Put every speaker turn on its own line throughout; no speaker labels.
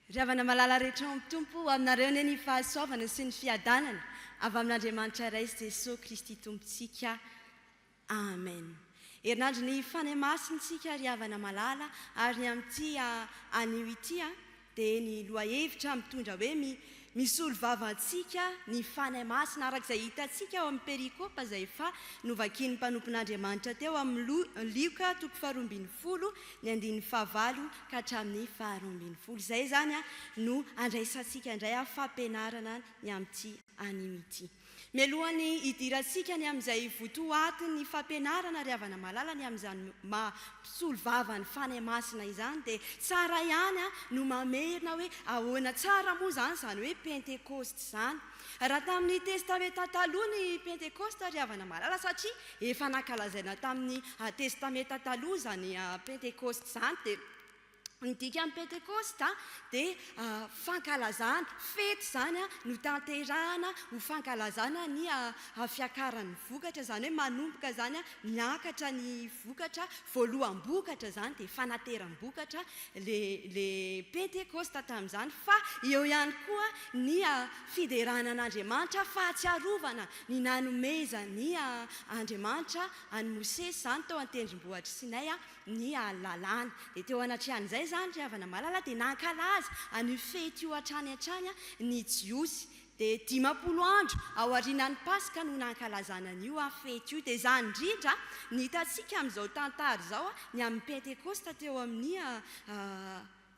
Ry havana malala rehetra ao amin'ny Tompo, ho aminareo anie ny fahasoavana sy ny fiadanana avy amin'Andriamanitra Ray sy Jesosy Kristy Tompontsika. Amen. Herinandron'ny Fanahy Masintsika ry havana malala ary ny amin'ity anio ity an! dia ny lohahevitra mitondra hoe mi, misolo vava antsika ny Fanahy Masina, araka izay hitantsika ao amin'ny perikopa izay efa novakian'ny mpanompon'Andriamanitra teo amin'ny Lioka toko faharoa ambin'ny folo ny andininy fahavalo ka hatramin'ny faharoa ambin'ny folo. Izay izany no andraisantsika indray fampianarana ny amin'ity anio ity. Mialohan'ny hidirantsika ny amin'izay votoatin'ny fampianarana ry havana malala ny amin'izany maha mpisolo vava ny Fanahy Masina izany dia tsara ihany no mamerina hoe ahoana tsara moa izany izany hoe Pentekosta izany. Raha tamin'ny Testamenta Taloha ny Pentekosta ry havana malala satria efa nankalazaina tamin'ny Testamenta Taloha izany Pentekosta izany dia Ny dikan'ny Pentekosta dia fankalazana, fety izany notanterahana ho fankalazana ny fiakaran'ny vokatra, izany hoe manomboka izany miakatra ny vokatra, voaloham-bokatra izany dia fanateram-bokatra ilay Pentekosta tamin'izany fa eo ihany koa ny fiderana an'Andriamanitra, fahatsiarovana ny nanomezan'Andriamanitra an'i Mosesy izany tao an-tendrombohitr'i Sinay ny lalàna. Dia teo anatrehan'izay izany ry havana malala dia nankalaza an'io fety io hatrany hatrany ny Jiosy. Dia dimampolo andro ao aorianan'ny Paska no nankalazana an'io fety io. Dia izany indrindra ny hitantsika amin'izao tantara izao, ny amin'ny Pentekosta teo amin'ny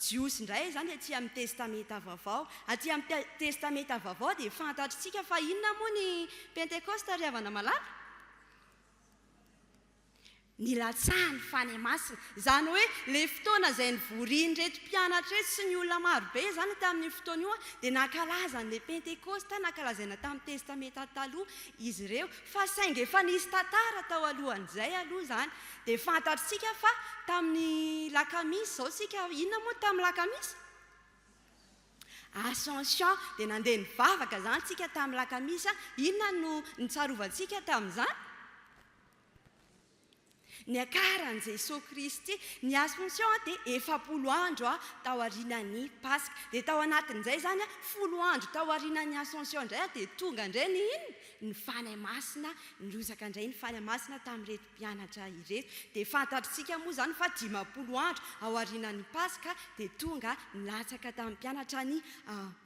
Jiosy indray izany dia aty amin'ny Testamenta Vaovao. Aty amin'ny Testamenta Vaovao dia fantatritsika fa inona moa ny Pentekosta ry havana malala? Nilatsaha ny fanahy masina. Izany hoe ilay fotoana izay nivorian'ireto mpianatra ireto sy ny olona maro be izany tamin'io fotoana io dia nankalaza an'ilay Pentekosta nankalazaina tamin'ny Testamenta Taloha izy ireo. Fa saingy efa nisy tantara tao alohan'izay aloha izany. Dia fantatritsika fa tamin'ny lakamisy izao isika, inona moa ny tamin'ny lakamisy? Ascension. Dia nandeha nivavaka izany isika tamin'ny lakamisy. Inona no nitsarovantsika tamin'izany? Niakaran'i Jesoa Kristy ny Assomption dia efapolo andro tao aorianan'ny Paska. Dia tao anatin'izay izany, folo andro tao aorianan'ny Assomption indray dia tonga indray ny inona? Ny Fanahy Masina, nirotsaka indray ny Fanahy Masina tamin'ireto mpianatra ireto. Dia fantatritsika moa izany fa dimampolo andro ao aorianan'ny Paska dia tonga nilatsaka tamin'ny mpianatra ny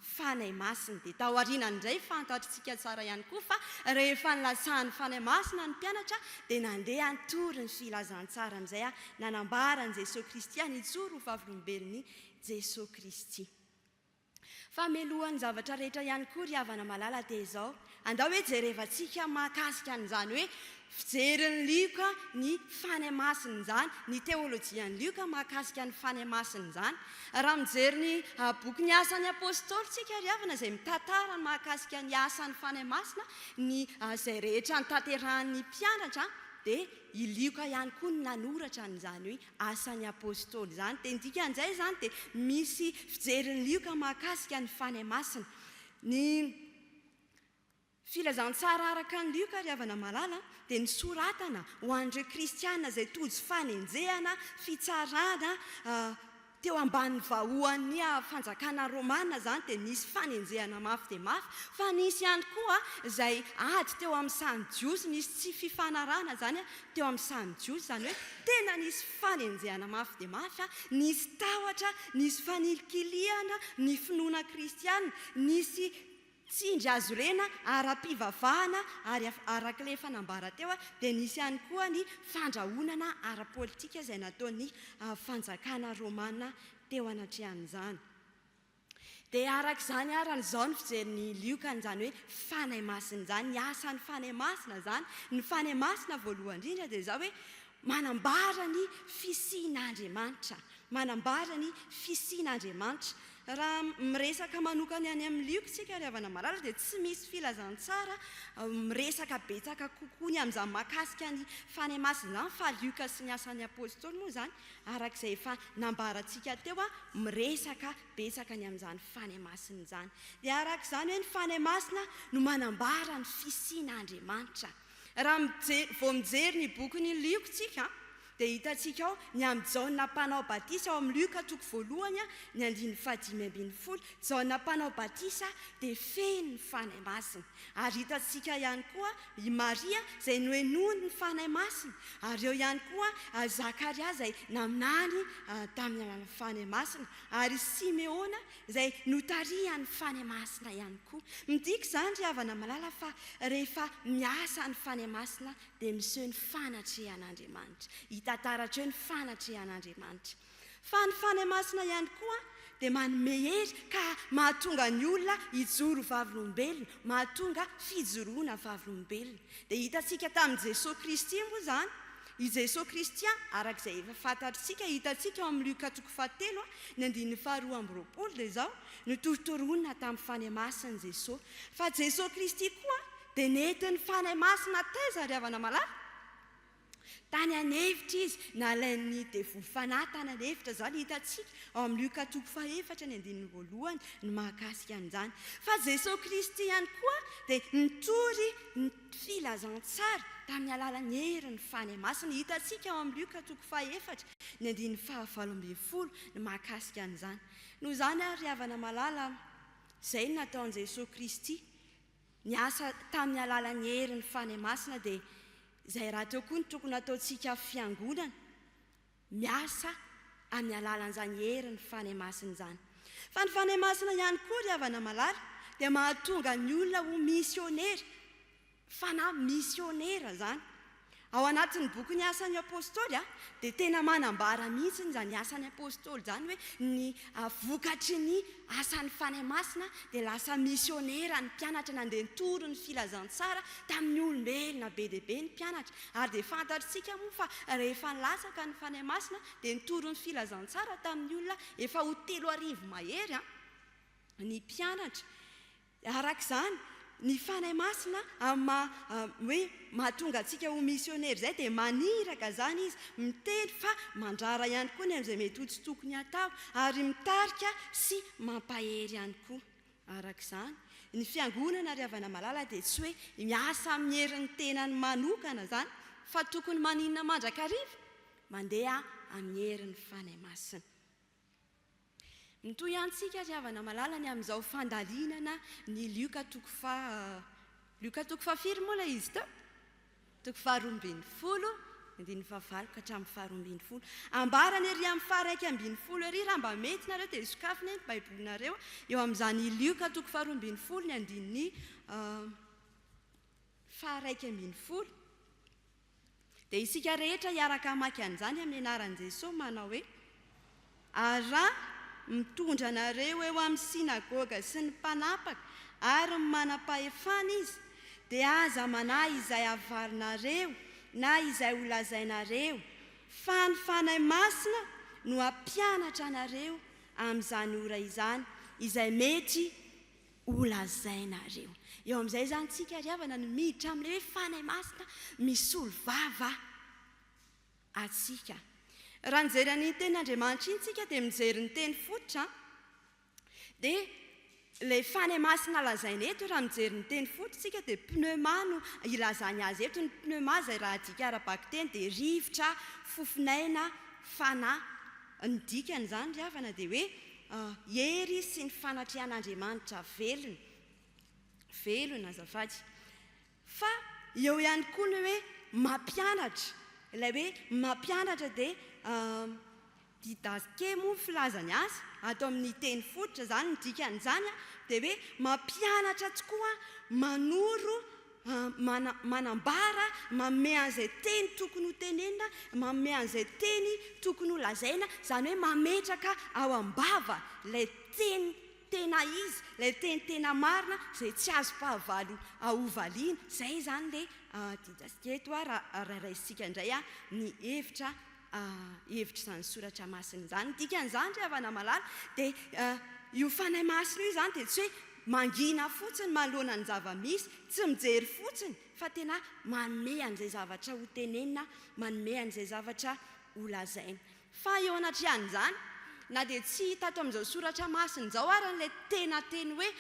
Fanahy Masina. Dia taoriana indray fantatrtsika tsara ihany koa fa rehefa nilatsahan'ny Fanahy Masina ny mpianatra dia nandeha nitory ny filazantsara amin'izay nanambaran'i Jesoa Kristy ary nijoro ho vavolombelon'i Jesoa Kristy. Fa melohan'ny zavatra rehetra ihany koa ry havana malala dia izao, Andao hoe jerevantsika mahakasika an'izany hoe fijerin'i Lioka ny fanahy masina izany, ny teolojian'i Lioka mahakasika ny fanahy masina izany. Raha mijery ny bokin'ny Asan'ny Apôstôly isika ry havana izay mitantara ny mahakasika ny asan'ny fanahy masina, ny izay rehetra notanterahin'ny mpianatra dia i Lioka ihany koa no nanoratra an'izany hoe Asan'ny Apôstôly izany. Dia ny dikan'izay izany dia misy fijerin'i Lioka mahakasika ny fanahy masina. Ny. Filazantsara araka an'i Lioka ry havana malala dia nosoratana ho an'ireo kristiana izay tojo fanenjehana, fitsarana, teo ambanin'ny vahoan'ny fanjakana romana izany dia nisy fanenjehana mafy dia mafy fa nisy ihany koa izay ady teo amin'ny samy jiosy nisy tsy fifanarahana izany teo amin'ny sahan'ny Jiosy, izany hoe tena nisy fanenjehana mafy dia mafy, nisy tahotra, nisy fanilikilihana ny finoana kristiana, nisy tsindry azo rena ara-pivavahana ary araka ilay efa nambara teo dia nisy ihany koa ny fandrahonana ara-politika izay nataon'ny fanjakana romana teo anatrehan'izany. Dia araka izany ary an izao ny fijery ny lioka an izany hoe fanahy masina izany, ny asa ny fanahy masina izany, ny fanahy masina voalohany indrindra dia izao hoe manambara ny fisian Andriamanitra, manambara ny fisian Andriamanitra. Raha miresaka manokana ny any amin ny lioka isika ry havana malala dia tsy misy filazantsara miresaka betsaka kokoa ny amin izany mahakasika ny fanahy masina izany fa lioka sy ny asan ny apostoly moa izany Araka izay efa nambarantsika teo a, miresaka betsaka ny amin'izany fanahy masina izany. Dia araka izany hoe ny fanahy masina no manambara ny fisian'Andriamanitra. Raha mijery, vao mijery ny bokin'ny Lioka tsika dia hitantsika ao ny amin'i Jaona mpanao batisa ao amin'ny Lioka toko voalohany ny andininy fahadimy ambin'ny folo, Jaona mpanao batisa dia feno ny fanahy masina. Ary hitantsika ihany koa i Maria izay nohenoin' ny Fanahy Masina, ary eo ihany koa Zakaria izay naminany tamin' ny alalan' ny Fanahy Masina, ary i Simeona izay notarihan' ny Fanahy Masina ihany koa. Midika izany, ry havana malala, fa rehefa miasa ny Fanahy Masina dia miseho ny fanatrehan' Andriamanitra, hita taratra eo ny fanatrehan' Andriamanitra. Fa ny Fanahy Masina ihany koa dia manome hery ka mahatonga ny olona hijoro ho vavolombelona, mahatonga fijoroana vavolombelona. Dia hitantsika tamin'i Jesoa Kristy moa izany, i Jesoa Kristy araka izay efa fantatritsika, hitantsika ao amin'ny Lioka toko fahatelo, ny andininy faharoa amby roapolo dia izao, Notorotoroina tamin'ny Fanahy Masina Jesoa. Fa Jesoa Kristy koa dia nentin'ny Fanahy Masina taiza ry havana malala? Tany an'efitra izy, nalain'ny devoly fanahy tany an'efitra. Izao no hitantsika ao amin'ny Lioka toko fahefatra ny andininy voalohany ny mahakasika an'izany. Fa Jesoa Kristy ihany koa dia nitory ny filazantsara tamin'ny alalan'ny herin'ny Fanahy Masina. Hitantsika ao amin'ny Lioka toko fahefatra ny andininy fahavalo ambin'ny folo ny mahakasika an'izany. Noho izany ary ry havana malala, izay no nataon'i Jesoa Kristy Niasa tamin'ny alalan'ny herin'ny Fanahy Masina dia izay rahateo koa no tokony hataontsika fiangonana, miasa amin'ny alalan'izany herin'ny Fanahy Masina izany. Fa ny Fanahy Masina ihany koa, ry havana malala, dia mahatonga ny olona ho misionera, fanahy misionera izany. Ao anatin'ny bokin'ny Asan'ny Apostoly dia tena manambara mihitsy izany Asan'ny Apostoly izany hoe ny vokatry ny asan'ny Fanahy Masina dia lasa misionera ny mpianatra nandeha nitory ny filazantsara tamin'ny olombelona be dia be ny mpianatra ary dia fantatrtsika moa fa rehefa nilatsaka ny Fanahy Masina dia nitory ny filazantsara tamin'ny olona efa ho telo arivo mahery ny mpianatra Araka izany, ny Fanahy Masina amin'ny maha hoe mahatonga antsika ho misionera izay dia maniraka izany Izy, miteny fa mandrara ihany koa ny amin'izay mety ho tsy tokony hatao, ary mitarika sy mampahery ihany koa. Araka izany, ny Fiangonana ry havana malala dia tsy hoe miasa amin'ny herin'ny tenany manokana izany fa tokony maninona mandrakariva? Mandeha amin'ny herin'ny Fanahy Masina. Mitohy ihany tsika ry havana malala ny amin'izao fandalinana ny lioka toko faha, lioka toko faha firy moa ilay izy teo? toko faha roa ambin'ny folo, andininy faha valo ka hatramin'ny faha roa ambin'ny folo. Ambarany ery amin'ny faha iraika ambin'ny folo ery raha mba mety nareo dia sokafina eny baibolinareo eo amin'izany lioka toko faha roa ambin'ny folo ny andininy faha iraika ambin'ny folo. Dia isika rehetra hiaraka hamaky an'izany amin'ny anaran'i Jesoa manao hoe, Ary raha mitondra anareo eo amin'ny synagoga sy ny mpanapaka ary ny manam-pahefana izy, dia aza manahy izay havarinareo na izay holazainareo, fa ny Fanahy Masina no hampianatra anareo amin'izany ora izany izay mety Ho lazainareo. Eo amin'izay izany tsika ry havana no miditra amin'ilay hoe Fanahy Masina misolo vava antsika. Raha nijery an'iny tenin'Andriamanitra iny tsika dia mijery ny teny fototra dia ilay Fanahy Masina lazaina eto raha mijery ny teny fototra tsika dia pneuma no ilazany azy eto. Ny pneuma izay raha adika ara-bakiteny dia rivotra, fofon'aina, fanahy. Ny dikan'izany ry havana dia hoe hery sy ny fanatrehan'Andriamanitra velona, velona azafady. Fa eo ihany koa ny hoe mampianatra, ilay hoe mampianatra dia didasque moa ny filazany azy, ato amin'ny teny fototra izany ny dikan'izany dia hoe mampianatra tokoa manoro Mana, manambara, manome an'izay teny tokony ho tenenina, manome an'izay teny tokony ho lazaina, izany hoe mametraka ao am-bava ilay teny tena izy, ilay teny tena marina izay tsy azo fahavalo hovaliana. Izay izany ilay adidintsika eto raha raisintsika indray ny hevitra. hevitr'izany soratra masina izany. Ny dikan'izany, ry havana malala, dia io Fanahy Masina io izany dia tsy hoe mangina fotsiny manoloana ny zava-misy, tsy mijery fotsiny, fa tena manome an'izay zavatra hotenenina, manome an'izay zavatra holazaina. Fa eo anatrehan'izany, na dia tsy hita ato amin'izao soratra masina izao ary ilay tena teny hoe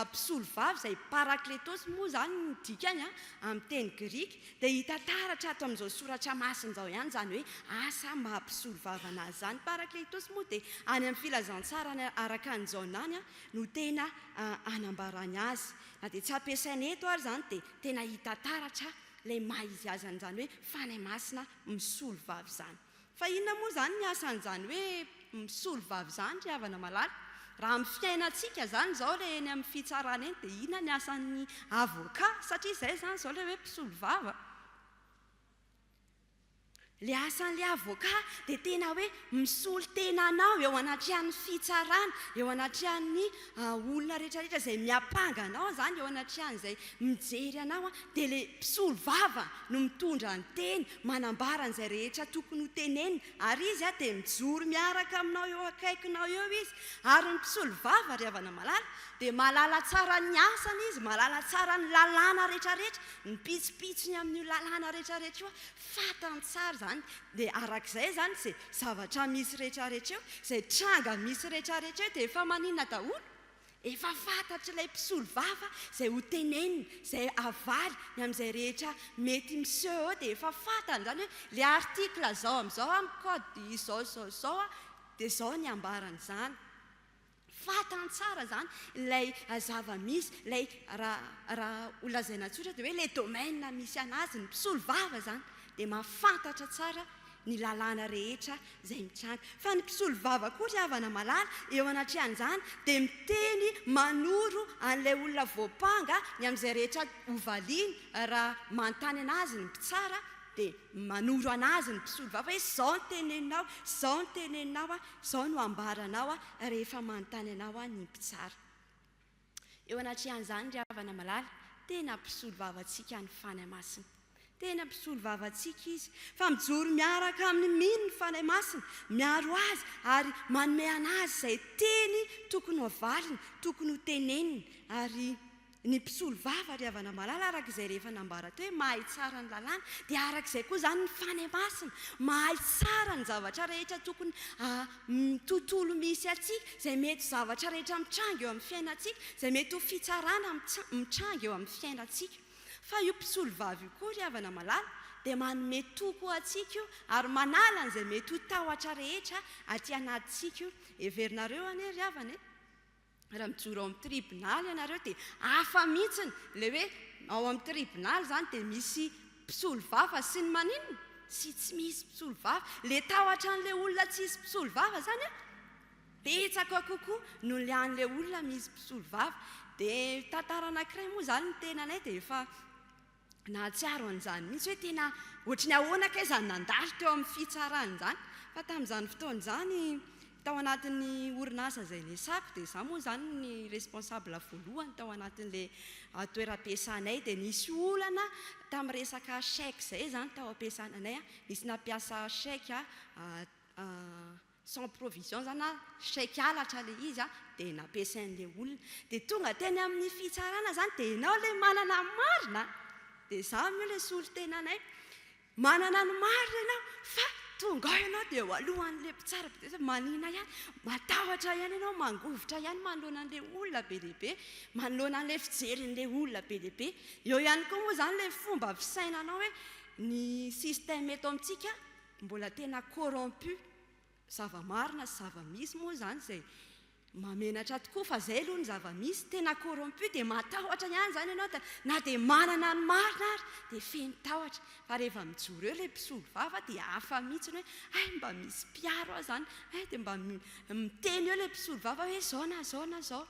mpisolovava izay parakletôsy moa izany ny dikany amin'ny teny grika, Dia hita taratra ato amin'izao soratra masina izao ihany izany hoe asa maha-mpisolovava anazy izany. Ny Parakleitosy moa dia any amin'ny Filazantsarany araka an'i Jaona any no tena anambarany azy. Na dia tsy ampiasaina eto ary izany dia tena hita taratra ilay maha-izy azy an'izany hoe fanahy masina misolovava izany. Fa inona moa izany ny asan'izany hoe misolo vavy izany ry havana malala? Raha amin'ny fiainantsika izany izao ilay eny amin'ny fitsarana eny dia inona ny asan'ny avocat? Satria izay izany izao ilay hoe mpisolo vava. Ilay asan'ilay avocat dia tena hoe misolo tena anao eo anatrehan'ny fitsarana, eo anatrehan'ny An olona rehetra rehetra izay miapanga anao zany eo anatrehan izay mijery anao an dia le mpisolo vava no mitondra ny teny manambara an izay rehetra tokony ho tenenina ary izy an dia mijoro miaraka aminao eo akaikinao eo izy ary ny mpisolo vava ry havana malala dia mahalala tsara ny asany izy mahalala tsara ny lalàna rehetra rehetra ny pitsopitsony amin io lalàna rehetra rehetra io Fantany tsara izany, dia araka izay izany izay zavatra misy rehetrarehetra eo, izay tranga misy rehetrarehetra eo dia efa maninona daholo? Efa fantatr'ilay mpisolovava izay ho teneniny, izay havaly ny amin'izay rehetra mety miseho eo dia efa fantany izany hoe ilay article izao amin'izao amin'ny code izao izao izao dia izao ny ambaran'izany. Fantany tsara izany ilay zava-misy, ilay raha ho lazaina tsotra dia hoe ilay domaine misy an'azy, ny mpisolo vava izany dia mahafantatra tsara ny lalàna rehetra izay mitranga. Fa ny mpisolo vava koa ry havana malala eo anatrehan'izany dia miteny manoro an'ilay olona voampanga ny amin'izay rehetra hovaliany raha manontany an'azy ny mpitsara dia manoro an'azy ny mpisolo vava hoe izao no teneninao, izao no teneninao an, Izao no hambaranao rehefa manontany anao ny mpitsara. Eo anatrehan'izany ry havana malala, tena mpisolo vavantsika ny Fanahy Masina. Tena mpisolo vavantsika Izy, fa mijoro miaraka amin'ny mino ny Fanahy Masina, miaro azy ary manome an'azy izay teny tokony ho avaliny, tokony ho teneniny ary Ny mpisolovava ry havana malala araka izay rehefa nambara teo hoe mahay tsara ny lalàna dia araka izay koa izany ny fanahy masina mahay tsara ny zavatra rehetra tokony amin'ny tontolo misy antsika izay mety zavatra rehetra mitranga eo amin'ny fiainantsika izay mety ho fitsarana mitranga eo amin'ny fiainantsika fa io mpisolovava io koa ry havana malala dia manome toky ho antsika io ary manala an'izay mety ho tahotra rehetra aty anatintsika io heverinareo anie ry havana e Raha mijoro ao amin'ny tribonaly ianareo dia hafa mihitsiny ilay hoe ao amin'ny tribonaly izany dia misy mpisolovava sy ny maninona sy tsy misy mpisolovava. Ilay tahotra an'ilay olona tsy hisy mpisolovava izany an, betsaka kokoa noho ny an'ilay olona misy mpisolovava. Dia tantara anankiray moa izany ny tenanay dia efa Nahatsiaro an'izany mihitsy hoe tena ohatry ny ahoana kay izany nandalo teo amin'ny fitsarana izany. Fa tamin'izany fotoana izany, tao anatin'ny orinasa izay niasako, dia izaho moa izany ny responsable voalohany tao anatin'ilay toeram-piasanay, dia nisy olana tamin'ny resaka chèque izay izany tao am-piasananay. Nisy nampiasa chèque sans provision zany na chèque halatra le izy a, dia nampiasain'le olona, dia tonga teny amin'ny fitsarana zany dia enao le manana ny marina a, dia izany moa le solontenanay, manana ny marina enao fa tonga ao enao dia eo alohan'le mpitsara be dia be sao manina ihany, matahotra ihany enao, mangovitra ihany manoloana an'le olona be dia be, manoloana an'le fijerin'le olona be dia be, eo ihany koa moa zany le fomba fisainanao hoe ny système eto amintsika, Mbola tena corrompu, zava-marina sy zava-misy moa izany izay mahamenatra tokoa fa izay aloha ny zava-misy, tena corrompu dia matahotra ihany izany ianao dia na dia manana ny marina ary dia feno tahotra fa rehefa mijoro eo ilay mpisolo vava dia hafa mihitsy ny hoe hay mba misy mpiaro ahy izany, hay dia mba miteny eo ilay mpisolo vava hoe izao na izao na izao.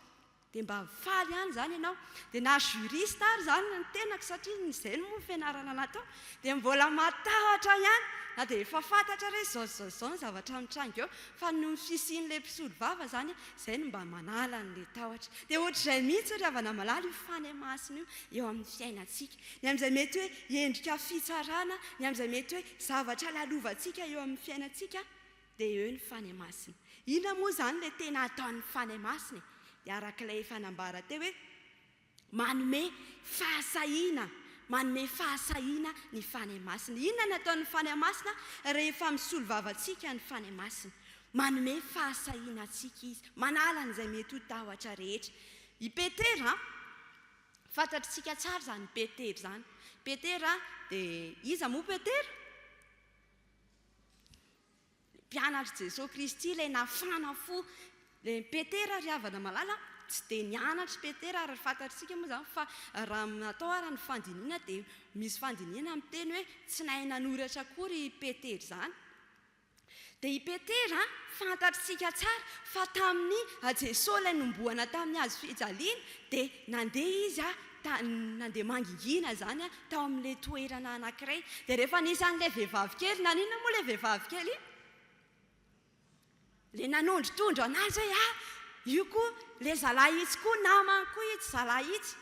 Dia mba mifaly ihany izany ianao. Dia na juriste ary izany ny tenako satria izay no fianarana natao, dia mbola matahotra ihany na dia efa fantatra re izao sy izao sy izao ny zavatra mitranga eo, fa noho ny fisian'ilay mpisolovava izany, izay no mba manala an'ilay tahotra. Dia ohatr'izay mihitsy ry havana malala io fanemasina io eo amin'ny fiainantsika. Ny amin'izay mety hoe endrika fitsarana, ny amin'izay mety hoe zavatra lalovantsika eo amin'ny fiainantsika. Dia eo ny Fanahy Masina. Inona moa izany ilay tena ataon'ny Fanahy Masina e? Dia araka ilay efa nambara teo hoe manome fahasahiana, manome fahasahiana ny Fanahy Masina. Inona no ataon'ny Fanahy Masina rehefa misolo vava antsika ny Fanahy Masina? Manome fahasahiana antsika Izy, manala an'izay mety ho tahotra rehetra. I Petera, fantatritsika tsara izany Petera izany. Petera dia, iza moa Petera? Mpianatr'i Jesoa Kristy ilay nafana fo dia Petera ry havana malala tsy dia nianatr'i Petera ary fantatsika moa izany fa raha ny atao ary ny fandinihana dia misy fandinihana miteny hoe tsy nahay nanoratra akory i Petera izany dia i Petera fantatsika tsara fa tamin'i Jesoa ilay nombohana tamin'ny hazo fijaliana dia nandeha izy tany nandeha mangingina izany aho tao amin'ilay toerana anankiray, dia rehefa nisy an'ilay vehivavy kely, naninona moa ilay vehivavy kely iny? Ilay nanondrotondro an'azy hoe ah! io koa ilay zalahy itsy koa namany koa itsy zalahy itsy,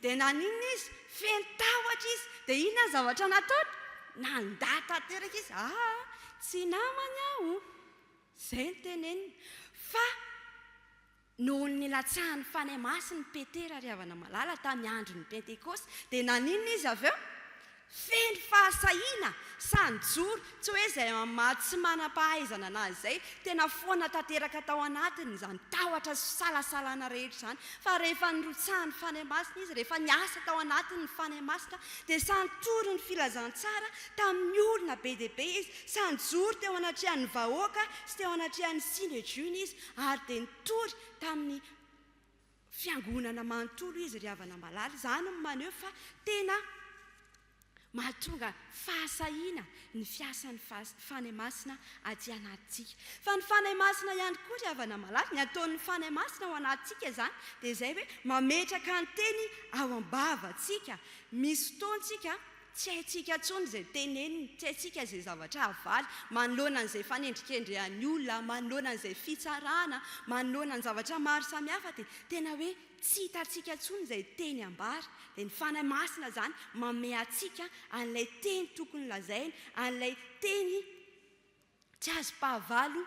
dia naninona izy? Feno tahotra izy, dia inona ny zavatra nataony? Nandà tanteraka izy, ah! tsy namany aho, izay no teneniny, fa Noho ny nilatsahan'ny Fanahy Masin'i Petera ry havana-malala tamin'ny andron'ny Pentekosta, dia naninona izy avy eo? Feno fahasahiana, sahy nijoro, tsy hoe izay amin'ny maha tsy manam-pahaizana anazy izay, tena foana tanteraka tao anatiny izany tahotra sy fisalasalana rehetra izany, fa rehefa nirotsahan'ny Fanahy Masina izy, rehefa niasa tao anatiny ny Fanahy Masina, dia sahy nitory ny filazantsara tamin'ny olona be dia be izy, sahy nijoro teo anatrehan'ny vahoaka sy teo anatrehan'ny Synedriona izy, Ary dia nitory tamin'ny Fiangonana manontolo izy ry havana malala. Izany no maneho fa tena mahatonga fahasahiana ny fiasan'ny Fanahy Masina aty anatintsika. Fa ny Fanahy Masina ihany koa ry havana malala, ny ataon'ny Fanahy Masina ao anatintsika izany dia izay hoe mametraka ny Teny ao am-bavantsika. Misy fotoantsika Tsy haintsika intsony izay teneniny, tsy haintsika izay zavatra havaly, manoloana an'izay fanendrikendrehan'ny olona, manoloana an'izay fitsarana, manoloana ny zavatra maro samihafa dia tena hoe tsy hitantsika intsony izay teny ambara. Dia ny Fanahy Masina izany manome antsika an'ilay teny tokony lazaina, an'ilay teny tsy azom-pahavalo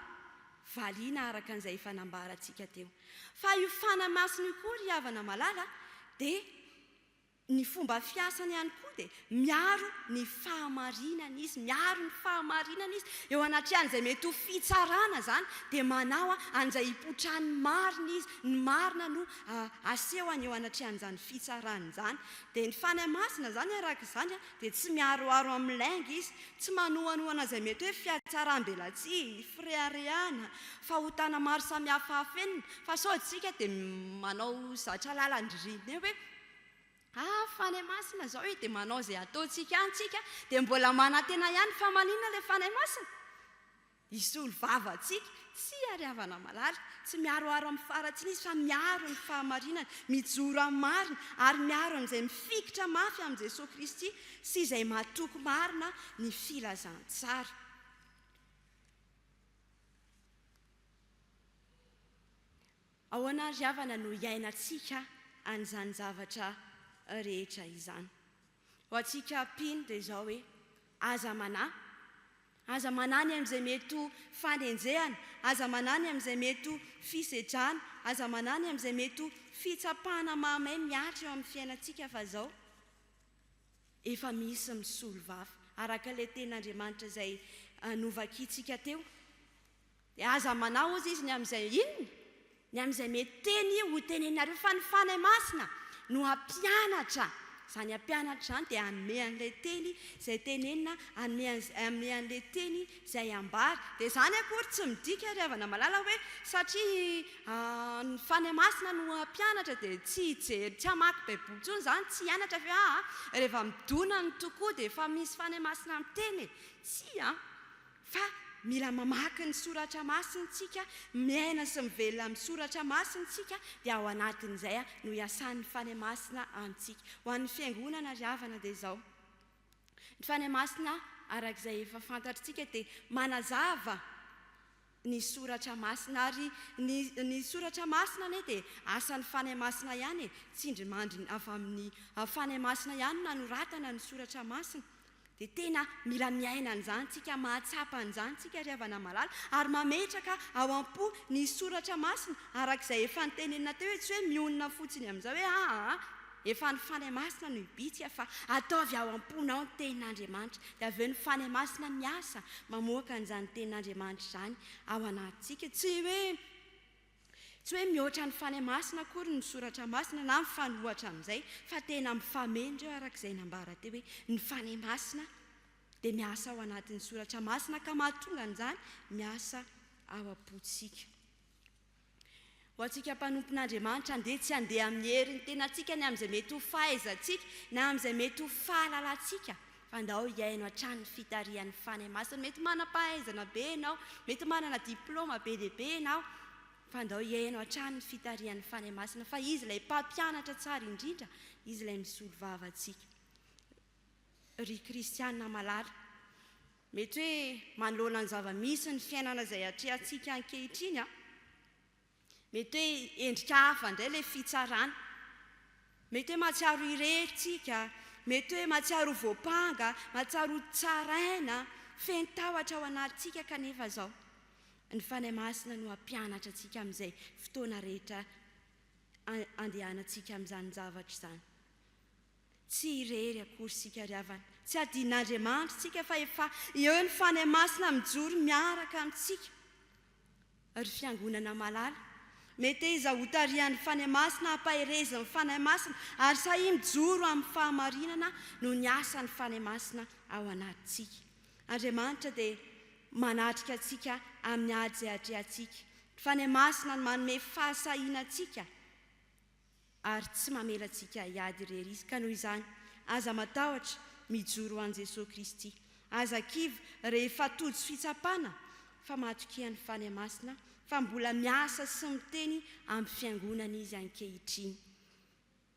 valiana araka an'izay efa nambarantsika teo. Fa io Fanahy Masina io koa ry havana malala dia Ny fomba fiasany ihany koa dia miaro ny fahamarinana izy, miaro ny fahamarinana izy, eo anatrehan'izay mety ho fitsarana izany dia manao an'izay hipotrahan'ny marina izy, ny marina no asehony eo anatrehan'izany fitsarana izany. Dia ny Fanahy Masina izany araka izany dia tsy miaroaro amin'ny lainga izy, tsy manohanohana izay mety hoe fiatsaram-belatsihy, fireharehana, fahotana maro samihafa afenina, fa sao isika dia manao zatra lalan-dririnina eo hoe, Ah Fanahy Masina zao e dia manao izay ataontsika any tsika dia mbola manantena ihany fa maninona ilay Fanahy Masina? Hisolo vava antsika, tsy hiariavana malala, tsy miharoharo amin'ny faharatsiana izy fa miaro ny fahamarinana, mijoro amin'ny marina ary miaro an'izay mifikitra mafy amin'i Jesoa Kristy sy izay matoky marina ny filazantsara. Ahoana ry havana no iainantsika an'izany zavatra rehetra izany? Ho antsika mpino dia izao hoe, aza manahy, aza manahy ny amin'izay mety ho fanenjehana, aza manahy ny amin'izay mety ho fisedrana, aza manahy ny amin'izay mety ho fitsapana mahamay mihatra eo amin'ny fiainantsika fa izao efa misy misolo vava araka ilay tenin'Andriamanitra izay novakintsika teo. Dia aza manao ozy izy ny amin'izay inona? Ny amin'izay mety teny ho teneninareo, fa ny Fanahy Masina no hampianatra. Izany hampianatra izany dia hanome an'ilay teny izay tenenina, hanome an'izay, hanome an'ilay teny izay ambara. Dia izany akory tsy midika ry havana malala hoe satria ny Fanahy Masina no hampianatra dia tsy hijery, tsy hamaky Baiboly intsony izany, tsy hianatra ve? Aa, rehefa midona ny tokoa dia efa misy Fanahy Masina miteny e! Tsia an! Fa mila mamaky ny soratra masina isika, miaina sy mivelona amin'ny soratra masina isika, dia ao anatin'izay no iasan'ny Fanahy Masina amintsika. Ho an'ny Fiangonana ry havana dia izao, ny Fanahy Masina araka izay efa fantatrtsika dia manazava ny soratra masina, ary ny ny soratra masina anie dia asan'ny Fanahy Masina ihany e, tsindrimandry avy amin'ny Fanahy Masina ihany no nanoratana ny soratra masina, Dia tena mila miaina an'izany tsika, mahatsapa an'izany tsika ry havana malala, ary mametraka ao am-po ny soratra masina araka izay efa notenenina teo hoe tsy hoe mionona fotsiny amin'izao hoe aa efa ny fanahy masina no hibitsika fa ataovy ao am-ponao ny tenin'Andriamanitra dia avy eo ny fanahy masina miasa mamoaka an'izany tenin'Andriamanitra izany ao anatintsika tsy hoe Tsy hoe mihoatra ny Fanahy Masina akory ny Soratra Masina na mifanohitra amin'izay, fa tena mifameno ireo araka izay nambara teo hoe ny Fanahy Masina dia miasa ao anatin'ny Soratra Masina ka mahatonga an'izany miasa ao am-pontsika. Ho antsika mpanompon'Andriamanitra, andeha tsy handeha amin'ny herin'ny tenantsika ny amin'izay mety ho fahaizantsika na amin'izay mety ho fahalalantsika Fa ndao hihaino hatrany ny fitarihan'ny Fanahy Masina. Mety manam-pahaizana be ianao, mety manana diplaoma be dia be ianao, fa ndao hihaino hatrany ny fitarihan'ny Fanahy Masina fa Izy ilay Mpampianatra tsara indrindra, Izy ilay misolo vava antsika. Ry kristiana malala, mety hoe manoloana ny zava-misy ny fiainana izay atrehantsika ankehitriny an, Mety hoe endrika hafa indray ilay fitsarana. Mety hoe mahatsiaro irery tsika, mety hoe mahatsiaro ho voampanga, mahatsiaro ho tsaraina, feno tahotra ao anatintsika kanefa izao ny Fanahy Masina no hampianatra antsika amin'izay fotoana rehetra andehanantsika amin'izany zavatra izany. Tsy irery akory isika ry havana, tsy hadin'Andriamanitra isika fa efa eo ny Fanahy Masina mijoro miaraka amintsika. Ry Fiangonana malala, meteza ho tarihan'ny Fanahy Masina, ampaherezin'ny Fanahy Masina, ary sahia mijoro amin'ny fahamarinana noho ny asan'ny Fanahy Masina ao anatintsika. Andriamanitra dia manatrika antsika amin'ny ady izay atrehantsika. Ny Fanahy Masina no manome fahasahiana antsika. ary tsy mamela antsika hiady irery izy. Ka noho izany, aza matahotra mijoro ho an'i Jesoa Kristy. Aza kivy rehefa tojo fitsapana fa matokian'ny Fanahy Masina fa mbola miasa sy miteny amin'ny Fiangonana Izy ankehitriny.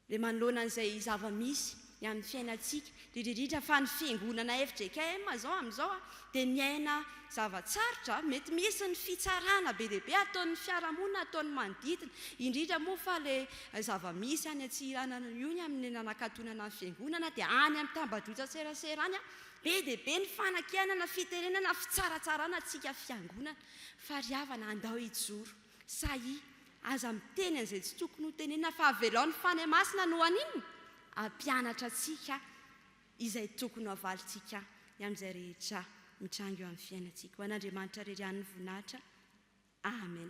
Dia manoloana an'izay zava-misy ny amin'ny fiainantsika indrindra indrindra fa ny fiangonana fjkm zao amin'izao dia miaina zava-tsarotra mety misy ny fitsarana be dia be ataon'ny fiarahamonina ataon'ny manodidina indrindra moa fa ilay zava-misy any Antsiranana io ny amin'ny nanakatonana ny fiangonana dia any amin'ny tambajotran-tserasera any be dia be ny fanakianana fitenenana fitsaratsarana antsika fiangonana fa ry havana andao hijoro Sahia, aza miteny an'izay tsy tokony ho tenenina fa avelao ny Fanahy Masina no haninona? hampianatra antsika izay tokony ho avalintsika ny amin'izay rehetra mitranga eo amin'ny fiainantsika. Ho an'Andriamanitra irery ihany ny voninahitra. Amen.